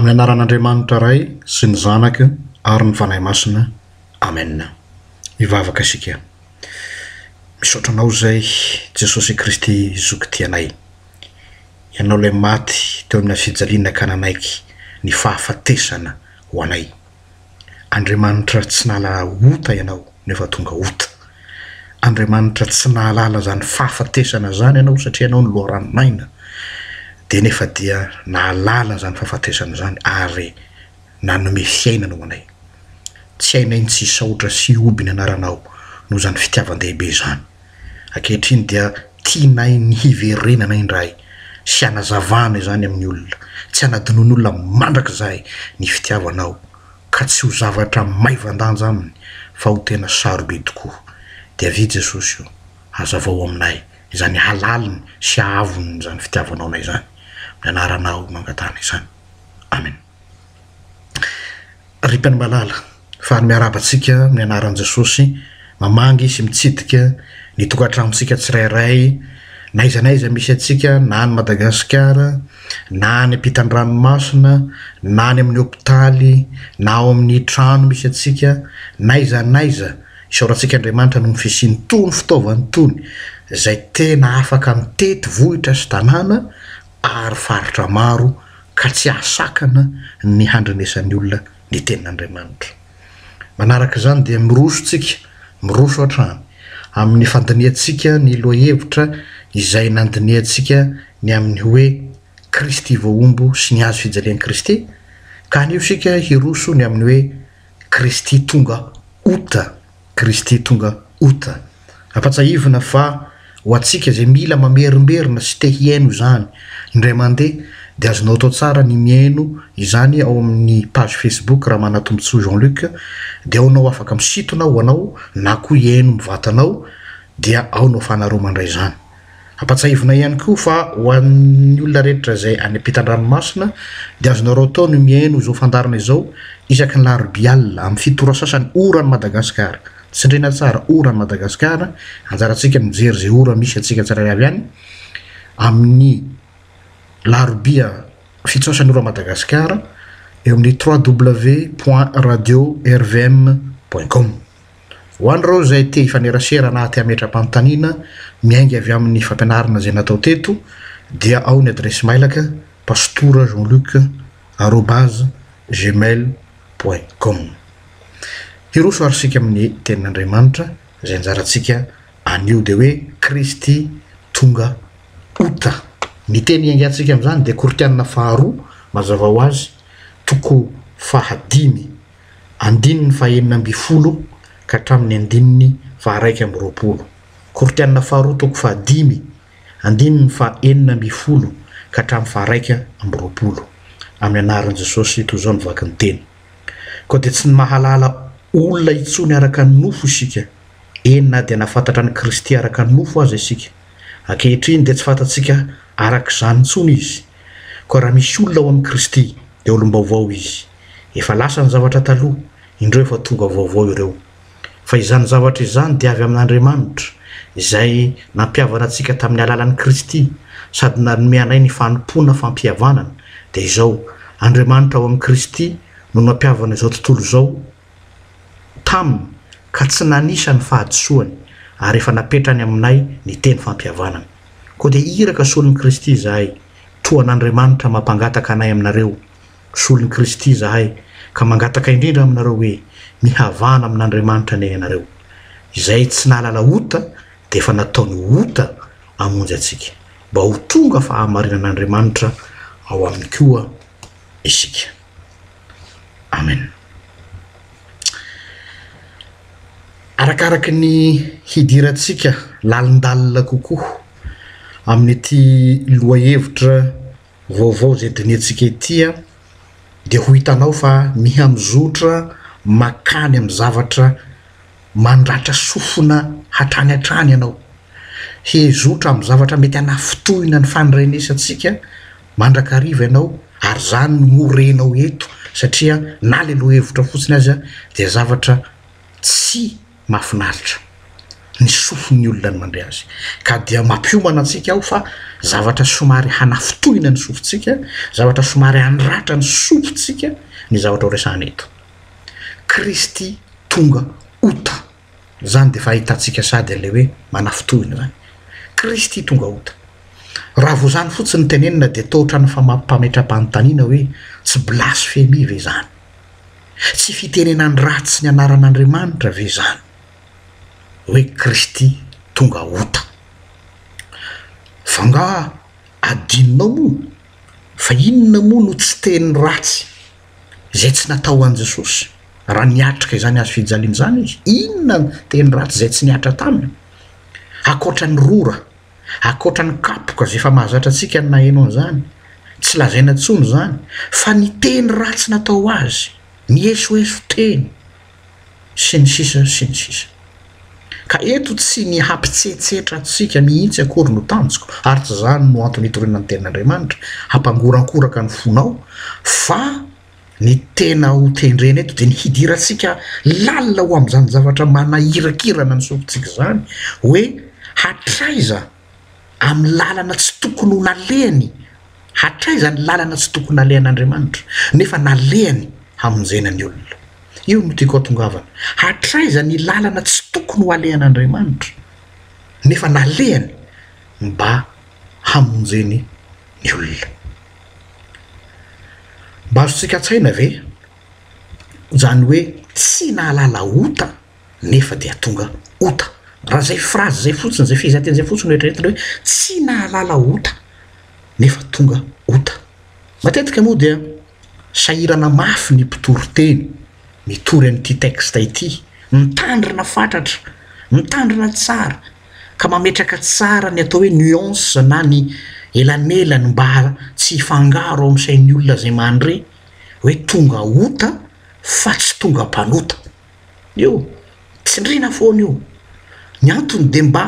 Amin'ny anaran'Andriamanitra Ray sy ny Zanaka ary ny Fanahy Masina. Amen. Hivavaka isika. Misaotra Anao izay Jesosy Kristy Zoky tianay. Ianao ilay maty teo amina fijaliana ka nanaiky ny fahafatesana ho anay. Andriamanitra tsy nahalala ota ianao nefa tonga ota. Andriamanitra tsy nahalala zany fahafatesana zany ianao satria ianao ny loharano maina dia nefa dia nahalala zany fahafatesana zany ary nanome fiainana ho anay. Tsy hainay ny tsy hisaotra sy hihoby ny anaranao noho zany fitiavan-dehibe zany. Ankehitriny dia tianay ny hiverenana indray sy hanazavana izany amin'ny olona. Tsy hanadinoan'olona mandrakizay ny fitiavanao ka tsy ho zavatra maivan-danja aminy fa ho tena sarobidy tokoa. Dia avia Jesosy o, hazavao aminay izany halaliny sy haavon'izany fitiavanao anay izany. Amin'ny anaranao no angatahana izany. Amena. Ripany malala fa ary miarahaba antsika amin'ny anaran'i Jesosy mamangy sy mitsidika ny tokantranontsika tsirairay na aiza na aiza misy antsika na any Madagasikara na any ampitan-dranomasina na any amin'ny hopitaly na ao amin'ny trano misy antsika na aiza na aiza isaorantsika Andriamanitra noho ny fisiany tony fitaovany tony izay tena afaka mitety vohitra sy tanàna ary faritra maro ka tsy hahasakana ny handrenesan'ny olona ny tenin'Andriamanitra. Manaraka izany dia miroso isika, miroso hatrany amin'ny fandinihantsika ny lohahevitra izay nandinihantsika ny amin'ny hoe Kristy voahombo sy ny hazo fijalian'i Kristy, ka anio isika hiroso ny amin'ny hoe Kristy tonga ota. Kristy tonga août. Ampatsahivina fa ho antsika izay mila mamerimberina sy te hihaino izany indray mandeha dia azonao atao tsara ny mihaino izany ao amin'ny page Facebook Ramanatombotsoa Jean Luc dia ao nao afaka misitona ho anao na koa hihaino mivatanao dia ao no afahanareo mandray izany. Ampatsahivina ihany koa fa ho an'ny olona rehetra izay any ampitan-dranomasina dia azonareo atao ny mihaino izao fandaharana izao isaky ny larobia alina amin'ny fito ora sasany oran'i Madagasikara. Tsindriana tsara oran'i Madagasikara, anjarantsika ny mijery izay ora misy antsika tsirairay avy any amin'ny larobia fito sasany oran'i Madagasikara eo amin'ny www point radio rvm point com. Ho an'ireo izay te hifanerasera na te hametra-panontaniana miainga avy amin'ny fampianarana izay natao teto dia ao ny adiresy mailaka pastora jean luc arobase gmail point com Hiroso ary isika amin'ny tenin'Andriamanitra izay anjarantsika anio dia hoe Kristy tonga ota Ny teny iangantsika amin'izany dia Koritianina faharoa mazava ho azy toko fahadimy andininy fahenina ambin'ny folo ka hatramin'ny andininy faharaika amby roapolo, Koritiana faharoa toko fahadimy, andininy fahenina ambin'ny folo ka hatramin'ny faharaika amby roapolo, Amin'ny anaran'i Jesosy, toy izao no vaky ny teny. Koa dia tsy mahalala olona intsony araka ny nofo isika, eny na dia nahafantatra an'i Kristy araka ny nofo aza isika. Ankehitriny dia tsy fantatsika araka izany intsony Izy. Koa raha misy olona ao amin'i Kristy, dia olom-baovao izy. Efa lasa ny zavatra taloha, indreo efa tonga vaovao ireo. Fa izany zavatra izany dia avy amin'Andriamanitra, izay nampihavana antsika tamin'ny alalan'i Kristy, sady nanome anay ny fanompoana fampihavanana, dia izao, Andriamanitra ao amin'i Kristy no nampihavana izao tontolo izao Taminy, ka tsy nanisa ny fahadisoany, ary efa napetrany aminay ny teny fampihavanana. Koa dia iraka solon'i Kristy izahay, toa an'Andriamanitra mampangataka anay aminareo, Mpisolon'i Kristy izahay, ka mangataka indrindra aminareo hoe, mihavana amin'Andriamanitra anie ianareo. Izay tsy nahalala ota dia efa nataony ho ota hamonjy antsika, mba ho tonga fahamarinan'Andriamanitra ao aminy koa isika. Amen. Arakaraky ny hidirantsika lalindalina kokoa amin'ity lohahevitra, Vaovao izay dinihintsika ety dia ho hitanao fa mihamizotra makany amin'ny zavatra mandratra sofina hatrany hatrany ianao. Hezotra amin'ny zavatra mety hanafintohina ny fandirenesantsika mandrakariva ianao ary izany no ho renao eto satria na ilay lohahevitra fotsiny aza dia zavatra tsy Mahafinaritra ny sofin'ny olona ny mandre azy ka dia mampiomana antsika ao fa zavatra somary hanafintohina ny sofintsika, zavatra somary hanratra ny sofintsika ny zavatra ho resahana eto. Kristy tonga ota. Izany dia efa ahitantsika sady an'ilay hoe manafintohina izany. Kristy tonga ota. Raha vao izany fotsiny no tenenina dia toa ohatran'ny fametraham-panontaniana hoe tsy blasfemia ve izany? Tsy fitenenany ratsy ny anaran'Andriamanitra ve izany hoe Kristy tonga ota? F'angaha adinonao moa fa inona moa no tsy teny ratsy izay tsy natao an'i Jesosy? Raha niatrika izany hazo fijaliana izany izy, inona no teny ratsy izay tsy nihatra taminy, ankoatra ny rora? Ankoatra ny kapoka izay efa mahazatra antsika ny naheno an'izany, tsy lazaina intsony izany fa ny teny ratsy natao azy, ny esoeso teny, sy ny sisa sy ny sisa. Ka eto tsy ny hampitsetsetra antsika mihitsy akory no tanjoko, ary tsy izany no antony itoriana ny tenin'Andriamanitra, hampangorankoraka ny fonao, fa. Ny tena ho tendrena eto dia ny hidirantsika lalina ho amin'izany zavatra manahirakirana ny sofintsika izany hoe hatraiza amin'ny lalana tsy tokony ho nalehany, hatraiza ny lalana tsy tokony nalehan'Andriamanitra nefa nalehany hamonjena ny olona. Io no tiako hatongavana, hatraiza ny lalana tsy tokony ho alehan'Andriamanitra nefa nalehany mba hamonjeny ny olona. Mba azontsika an-tsaina ve izany hoe tsy nahalala ota nefa dia tonga ota? Raha izay phrase izay fotsiny, izay fehezanteny izay fotsiny no eritreretina hoe tsy nahalala ota nefa tonga ota. Matetika moa dia sahirana mafy ny mpitory teny, mitory an'ity texte ity, mitandrina fatratra, mitandrina tsara, ka mametraka tsara ny atao hoe nuance na ny elanelany mba tsy hifangaro ao amin'ny sain'ny olona izay mandre hoe tonga ota fa tsy tonga mpanota. Io, tsindriana foana io. Ny antony dia mba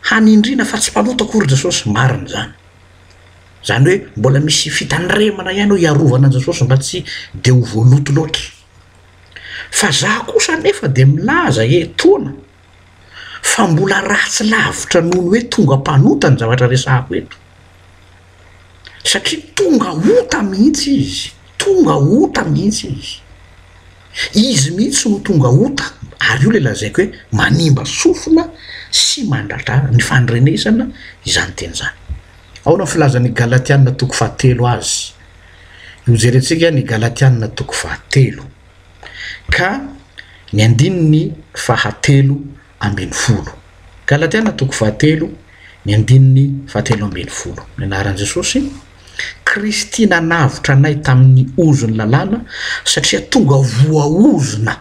hanindriana fa tsy mpanota akory Jesosy, marina izany. Izany hoe mbola misy fitandremana ihany hoe hiarovana an'i Jesosy mba tsy dia ho voaloto loatra. Fa za kosa anefa dia milaza etoana, fa mbola ratsy lavitra noho ny hoe tonga mpanota ny zavatra resahako eto, satria tonga ota mihitsy izy, tonga ota mihitsy izy, izy mihitsy no tonga ota ary io ilay lazaiko hoe manimba sofina sy mandratra ny fandrenesana izany teny izany. Ahoana ny filazan'ny Galatiana toko fahatelo azy? Hojerentsika ny Galatiana toko fahatelo. Ka ny andininy fahatelo ambin'ny folo. Galatiana toko fahatelo, ny andininy fahatelo ambin'ny folo. Ny anaran'i Jesosy, Kristy nanavotra anay tamin'ny ozon'ny lalàna, satria tonga voaozona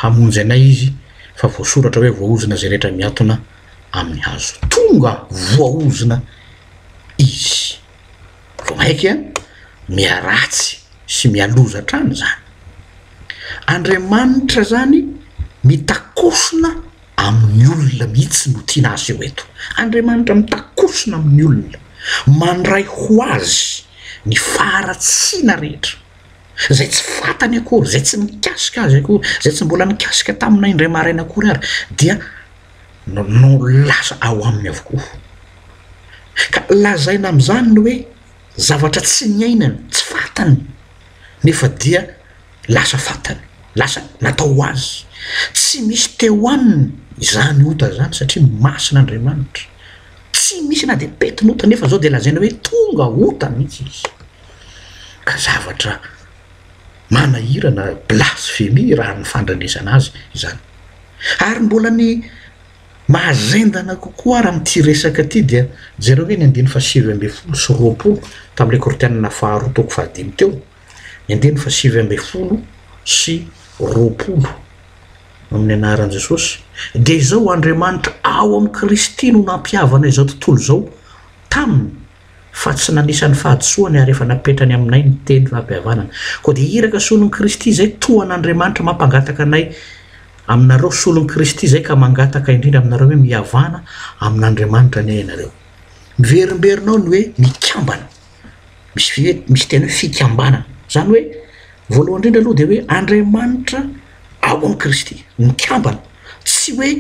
hamonjy anay izy, fa voasoratra hoe voaozona izay rehetra miatona amin'ny hazo. Tonga voaozona izy. vao mainka miharatsy sy mihaloza hatrany izany. Andriamanitra izany mitakosona amin'ny olona mihitsy no tiana aseho eto. Andriamanitra mitakosona amin'ny olona, mandray ho azy ny faharatsiana rehetra, izay tsy fantany akory, izay tsy mikasika azy akory, izay tsy mbola nikasika taminay indray maraina akory ary dia no lasa ao aminy avokoa. Ka lazaina amin'izany ny hoe zavatra tsy niainany, tsy fantany, nefa dia lasa fantany, lasa natao ho azy. Tsy misy teo aminy izany ota izany satria masina Andriamanitra. Tsy misy na dia pety ny ota nefa izao dia lazaina hoe tonga ota mihitsy izy. Ka zavatra manahirana, blasphemie raha ny fandrenesana azy izany. Ary mbola ny mahazendana kokoa ary amin'ity resaka ity dia jereo ve ny andininy fahasivy ambin'ny folo sy roapolo tamin'ilay Kortianina faharoa toko fahadimy teo, ny andininy fahasivy ambin'ny folo sy roapolo, Amin'ny anaran'i Jesosy, dia izao, Andriamanitra ao amin'i Kristy no nampihavana izao tontolo izao taminy, Fa tsy nanisa ny fahadisoany ary efa napetrany aminay ny teny fampihavanana. Koa dia iraka solon'i Kristy izay tohan'Andriamanitra mampangataka anay aminareo solon'i Kristy izay ka mangataka indrindra aminareo hoe mihavana amin'Andriamanitra anie ianareo. Miverimberina ao ny hoe mikambana. Misy vy hoe misy teny hoe fikambanana. Izany hoe voalohany indrindra aloha dia hoe Andriamanitra ao amin'i Kristy. Mikambana. Tsy hoe.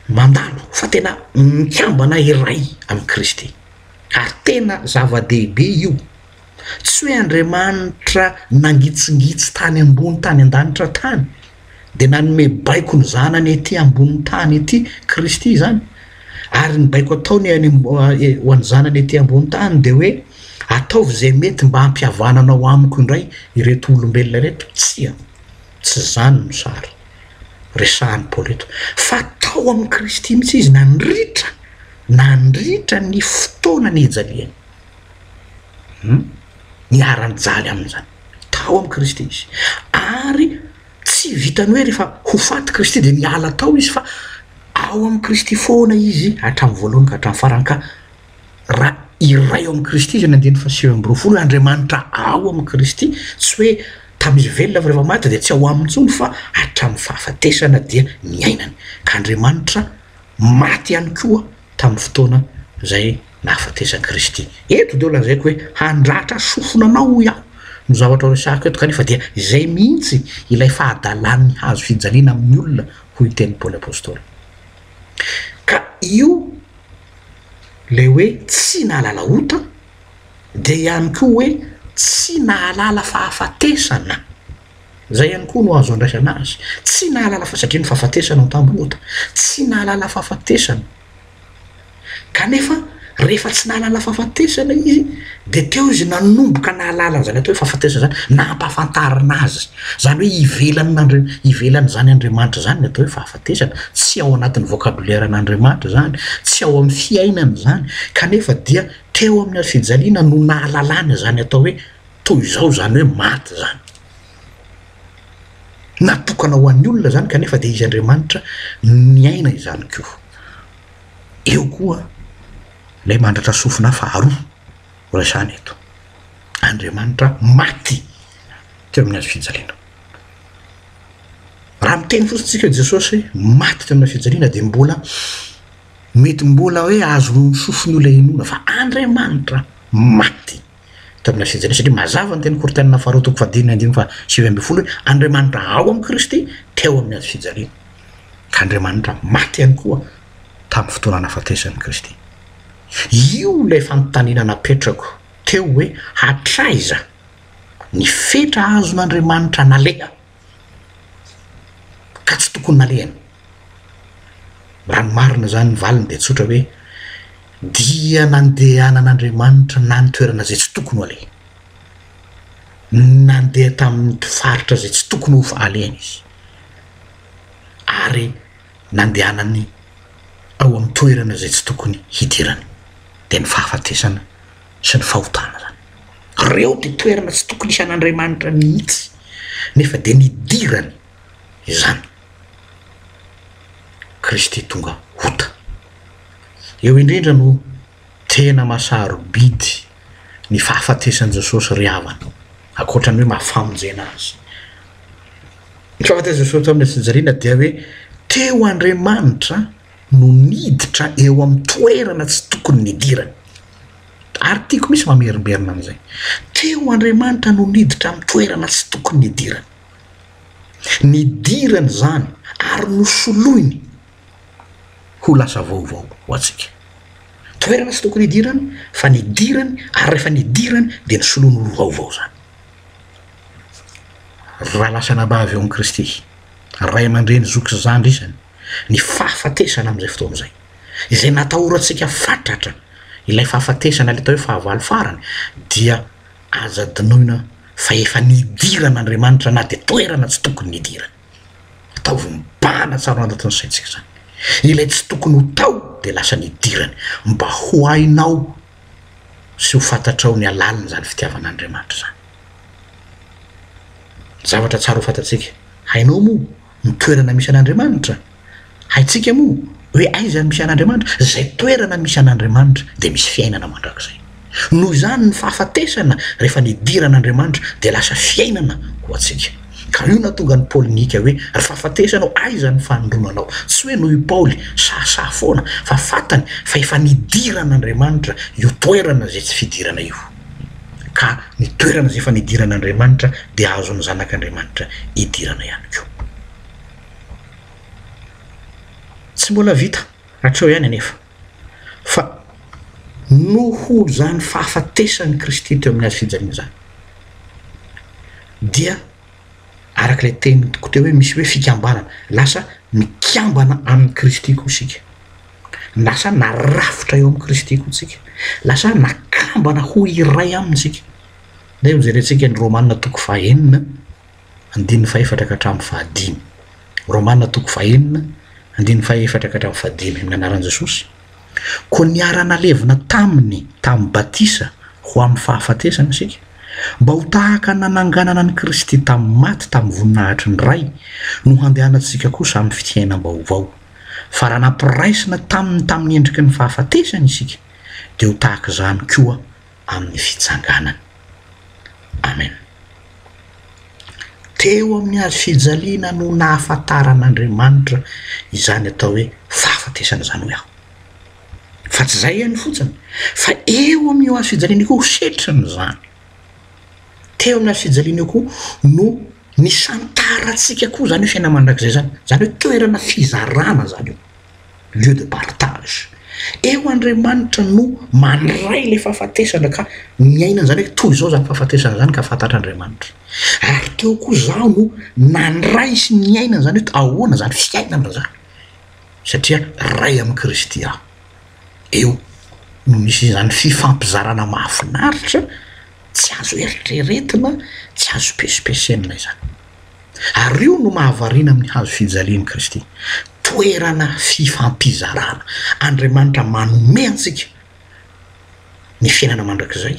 mandalo fa tena mikambana iray amin'i Kristy ary tena zava-dehibe io, tsy hoe Andriamanitra nangitsingitsy tany ambony tany an-danitra tany dia nanome baiko ny Zanany ety ambonin'ny tany ety Kristy izany ary ny baiko ataony any ho an'ny Zanany ety ambony tany dia hoe ataovy izay mety mba hampihavananao amiko indray ireto olombelona ireto, tsia. Tsy izany no sary resahan'i Paoly eto, fa tao amin'i Kristy mihitsy izy nandritra nandritra ny fotoana nijaliany. Humm, niara-nijaly amin'izany. Tao amin'i Kristy izy. Ary tsy vitan'ny hoe rehefa ho faty Kristy dia niala tao izy fa ao amin'i Kristy foana izy hatramin'ny voalohany ka hatramin'ny farany ka Ra iray ao amin'i Kristy izay nandeha ny fahasivy amby roafolo, Andriamanitra ao amin'i Kristy, tsy hoe tamin'izy velona fa rehefa maty dia tsy ao aminy intsony fa hatramin'ny fahafatesana dia ny ainany. Ka Andriamanitra maty ihany koa tamin'ny fotoana izay nahafatesan'i Kristy. Eto dia ho lazaiko hoe handratra sofina anao hoy aho no zavatra ho resahako eto kanefa dia izay mihitsy ilay fahadalan'ny hazo fijaliana amin'ny olona hoy ny tenin'i Paoly Apostoly. Ka io ilay hoe tsy nahalala ota dia ihany koa hoe tsy nahalala fahafatesana, izay ihany koa no azo andraisana azy, tsy nahalala fa satria ny fahafatesana no tamby ota, tsy nahalala fahafatesana. Kanefa, rehefa tsy nahalala fahafatesana izy, dia teo izy nanomboka nahalala an'izany atao hoe fahafatesana izany, nampahafantarina azy. Izany hoe ivelan'Andri-, ivelan'izany Andriamanitra izany ny atao hoe fahafatesana, tsy ao anatin'ny vokaboleran'Andriamanitra izany, tsy ao amin'ny fiainany izany, kanefa dia teo amin'ny hazofijaliana no nahalalany izany atao hoe toy izao izany hoe maty izany. Natokana ho an'ny olona izany kanefa dia izy Andriamanitra niaina izany koa. Eo koa ilay mandratra sofina faharoa resahana eto. Andriamanitra maty teo amin'ny hazo fijaliana. Raha miteny fotsiny isika hoe Jesosy maty teo amina fijaliana dia mbola mety mbola hoe azon'ny sofin'olona inoana fa Andriamanitra maty Tamin'ny asehajana satria mazava ny teny Korinthiana faharoa toko fahadimy andininy faha sivy ambin'ny folo hoe Andriamanitra ao amin'i Kristy teo amin'ny hazo fijaliana ka Andriamanitra maty ihany koa tamin'ny fotoana nahafatesan'i Kristy. Io ilay fanontaniana napetrako teo hoe hatraiza ny fetra azon'Andriamanitra naleha? ka tsy tokony nalehany. Raha ny marina izany ny valiny dia tsotra hoe, dia nandehanan'Andriamanitra nany toerana izay tsy tokony ho alehany. Nandeha tamin'nty faritra izay tsy tokony ho alehany izy. Ary nandehanany ao amin'ny toerana izay tsy tokony hidirany. Dia ny fahafatesana. sy ny fahotana izany. Ireo dia toerana tsy tokony hisy an'Andriamanitra mihitsy, nefa dia nidirany izany. Kristy tonga ota. Eo indrindra no tena maha-sarobidy ny fahafatesan'i Jesosy ry havana, ankoatra ny hoe maha-famonjena azy. Ny fahafatesan'i Jesosy tamin'ny hatsinjariana dia hoe teo Andriamanitra, no niditra eo amin'ny toerana tsy tokony nidirany. Ary tiako mihitsy mamerimberina an'izay. Teo Andriamanitra no niditra amin'ny toerana tsy tokony nidirany. Nidirany izany ary nosoloiny ho lasa vaovao ho antsika. Toerana tsy tokony hidirany fa nidirany ary rehefa nidirany dia nosoloiny ho vaovao izany. Ry lahy lahy sy anabavy ao amin'i Kristy, ray aman-dreny, zoky sy zandry isany, ny fahafatesana amin'izay fotoana izay, izay natahorantsika fatratra, ilay fahafatesana, ilay atao hoe fahavalo farany, dia aza adinoina fa efa nidiran'Andriamanitra na dia toerana tsy tokony nidirany. Ataovy mibahana tsara ao anatin'ny saintsika izany. Ilay tsy tokony ho tao dia lasa nidirany, mba ho hainao sy ho fantatrao ny halaliny izany fitiavan'Andriamanitra izany. Zavatra tsara ho fantatsika, hainao moa? Ny toerana misy an'Andriamanitra. Haintsika moa hoe aiza no misy an'Andriamanitra? Izay toerana misy an'Andriamanitra dia misy fiainana mandrakizay. Noho izany ny fahafatesana rehefa nidiran'Andriamanitra dia lasa fiainana ho antsika. Ka io nahatonga an'i Paoly nihiaka hoe, Ry fahafatesana ô aiza ny fanindromanao? Tsy hoe noho i Paoly sahasaha foana fa fantany fa efa nidiran'Andriamanitra io toerana izay tsy fidirana io. ka ny toerana izay efa nidiran'Andriamanitra dia azon'ny zanak'Andriamanitra idirana ihany koa. Tsy mbola vita hatreo ihany anefa, fa noho izany fahafatesan'i Kristy teo amin'ny hazo fijaliana izany dia, araka ilay teniko teo hoe misy hoe fikambanana, lasa mikambana amin'i Kristy koa isika, lasa narafitra eo amin'i Kristy koa isika, lasa nakambana ho iray aminy isika. Ndeha hojerentsika ny Romana toko fahenina andininy fahefatra ka hatramin'ny fahadimy. Romana toko fahenina andininy fahefatra ka hatramin'ny fahadimy, amin'ny anaran'i Jesosy. Koa niara-nalevina taminy tamin'ny batisa ho amin'ny fahafatesana isika, mba ho tahaka ny nananganana an'i Kristy tamin'ny maty tamin'ny voninahitry ny Ray, no handehanantsika kosa amin'ny fiainam-baovao. Fa raha nampiraisina taminy tamin'ny endriky ny fahafatesany isika, dia ho tahaka izany koa amin'ny fitsanganany. Amena. Teo amin'ny hazo fijaliana no nahafantaran'Andriamanitra izany atao hoe fahafatesana izany, hoy aho. Fa tsy izay ihany fotsiny, fa eo amin'io hazo fijaliana io koa ho setriny izany. Teo amin'ny hazo fijaliana io koa no nisantarantsika koa izany hoe fiainana mandrakizay izany, izany hoe toerana fizarana izany io. lieu de partage. Eo Andriamanitra no mandray ilay fahafatesana ka miaina an'izany hoe toy izao izany fahafatesana izany ka fantatr'Andriamanitra. Ary teo koa izaho no nandray sy niaina an'izany hoe ahoana izany fiainana izany, satria iray amin'i Kristy aho. Eo no misy izany fifampizarana mahafinaritra tsy azo eritreretina, tsy azo pesipesenina izany. Ary io no mahavariana amin'ny hazo fijalian'i Kristy, toerana fifampizarana. Andriamanitra manome antsika ny fiainana mandrakizay,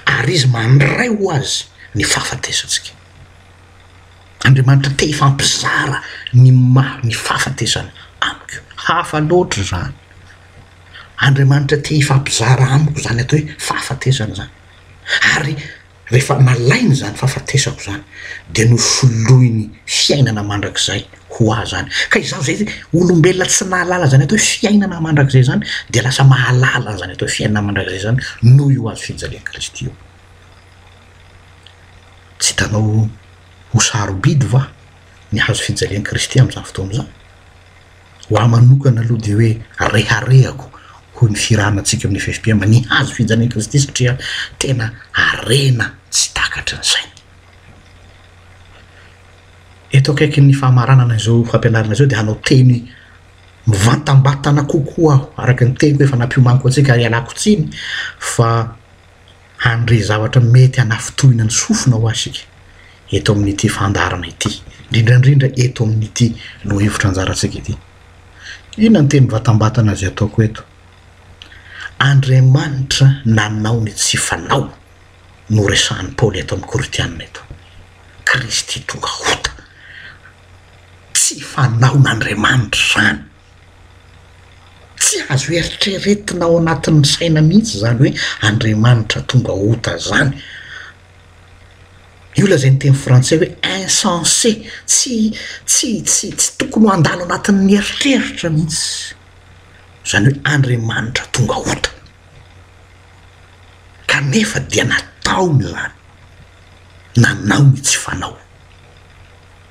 ary Izy mandray ho Azy ny fahafatesantsika. Andriamanitra te hifampizara ny maha ny fahafatesana amiko. Hafa loatra izany. Andriamanitra te hifampizara amiko izany atao hoe fahafatesana izany. Ary Rehefa nalainy izany fahafatesako izany dia nosoloiny fiainana mandrakizay ho ahy izany. Ka izaho izay olombelona tsy nahalala izany atao hoe fiainana mandrakizay izany dia lasa mahalala an'izany atao hoe fiainana mandrakizay izany noho io hazo fijalian'i Kristy io. Tsy hitanao ho sarobidy va ny hazo fijalian'i Kristy amin'izany fotoana izany? Ho ahy manokana aloha dia hoe reharehako hoy ny firahanantsika amin'ny FFPM, ny hazo fijalian'i Kristy satria tena harena tsy takatry ny saina. Eto akaikin'ny famaranana izao fampianarana izao dia hanao teny mivantambatana kokoa aho araka ny teniko efa nampiomaniko antsika ary ialako tsiny fa Handre zavatra mety hanafintohina ny sofina ho'a isika eto amin'ity fandaharana ity, indrindra indrindra eto amin'ity lohahevitra anjarantsika ity. Inona ny teny vatambatana izay ataoko eto? Andriamanitra nanao ny tsy fanao no resahan'i Paoly eto amin'ny Korintiana eto. Kristy tonga hota. Tsy fanaon'Andriamanitra izany. Tsy azo eritreretina ao anatin'ny saina mihitsy izany hoe Andriamanitra tonga ota izany. Io lazain'ny teny frantsay hoe insensé, tsy tsy tsy tsy tokony ho handalo anatin'ny eritreritra mihitsy izany hoe Andriamanitra tonga ota. Kanefa dia nataony izany, nanao ny tsy fanao.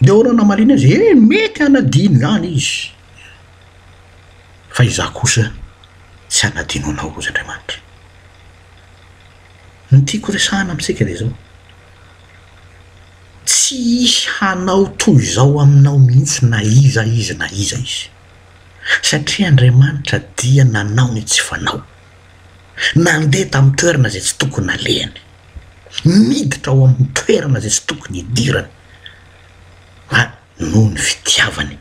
Dia hono namaliana azy, He, mety hanadino izany izy. Fa izaho kosa tsy hanadino anao, hoy Andriamanitra. Ny tiako horesahana amintsika dia izao, Tsy hisy hanao toy izao aminao mihitsy na iza izy na iza izy. Satria Andriamanitra dia nanao ny tsy fanao. Nandeha tamin'ny toerana izay tsy tokony nalehany. Niditra ao amin'ny toerana izay tsy tokony hidirany. a noho ny fitiavany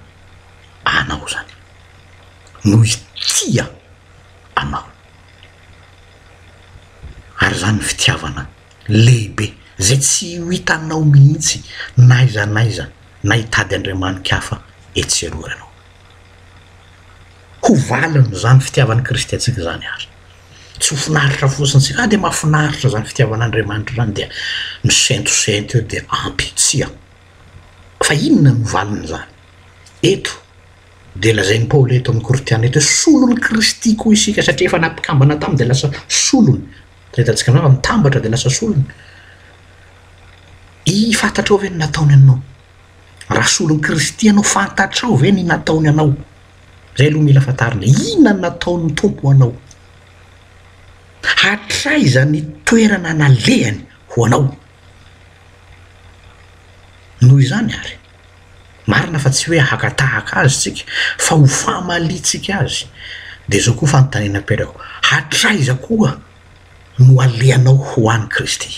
anao zany no itia anao ary zany fitiavana lehibe zay tsy ho hitanao mihitsy na aiza na aiza na hitady andriamani-kafa etsy sy eroa ianao. Ho valin'izany fitiavan'i Kristy antsika izany ary. Tsy ho finaritra fotsiny isika, ah dia mahafinaritra izany fitiavan'Andriamanitra izany dia misentosento eo dia ampy, tsia. Fa inona no valin'izany? Eto dia lazain'i Paoly eto amin'ny Korintiana eto hoe solon'i Kristy koa isika satria efa nampikambana taminy dia lasa solony. Hitantsika angamba mitambatra dia lasa solony. Iiy, fantatrao ve ny nataony anao? Raha solon'i Kristy ianao, fantatrao ve ny nataony anao? Izay aloha mila fantarina e! Inona no nataon'ny Tompo anao? Hatraiza ny toerana nalehany ho anao? Noho izany àry, marina fa tsy hoe haka tahaka Azy isika, fa ho famaliantsika Azy. Dia izao koa fanontaniana apetrako, Hatraiza koa no alehanao ho an'i Kristy?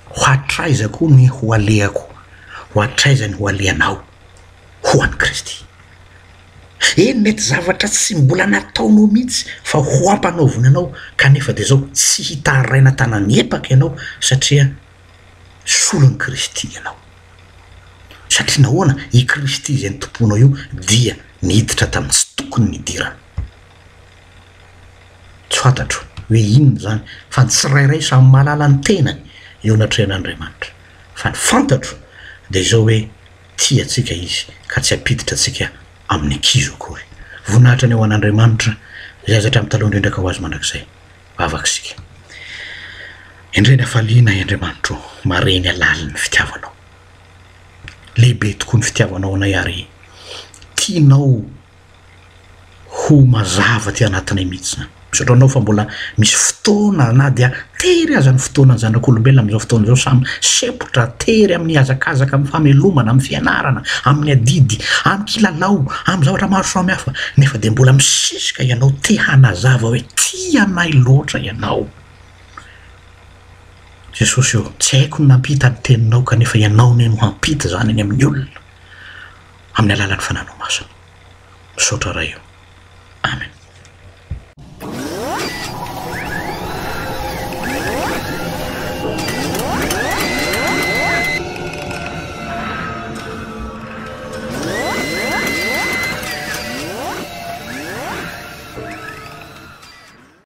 Ho hatraiza koa ny ho alehako? Ho hatraiza ny ho alehanao? Ho an'i Kristy. Eny, mety zavatra tsy mbola nataonao mihitsy fa ho ampanaovina anao, kanefa dia izao, tsy hitaraina tanan'ny epaka ianao, satria solon'i Kristy ianao. Satria nahoana? I Kristy izay nitompoanao io dia niditra tamin'ny tsy tokony nidirana. Tsy fantatro hoe inona izany, fa ny tsirairay samy mahalala ny tenany eo anatrehan'Andriamanitra. Fa ny fantatro dia izao hoe tia antsika Izy ka tsy hampiditra antsika amin'ny kizo akory. Voninahitra ny ho an'Andriamanitra izay aza hatramin'ny taloha indrindra ka ho azy mandrakizay. Vavaka isika. Endrey ny hafaliana ahy Andriamanitra o, mahare ny halalin'ny fitiavanao. Lehibe tokoa ny fitiavanao anay ary tianao Ho mazava aty anatinay mihitsy izany. Misaotra anao fa mbola misy fotoana na dia tery aza ny fotoanan'ny zanak'olombelona amin'izao fotoana izao samy sempotra tery amin'ny hazakazaka, amin'ny famelomana, amin'ny fianarana, amin'ny adidy, amin'ny kilalao, amin'ny zavatra maro samihafa nefa dia mbola misisika ianao te hanazava hoe tia anay loatra ianao. Jesosy ô, tsy haiko ny nampita ny teninao kanefa ianao anie no hampita izany any amin'ny olona. Amin'ny alalan'ny Fananao Masina. Misaotra Ray o. Amen.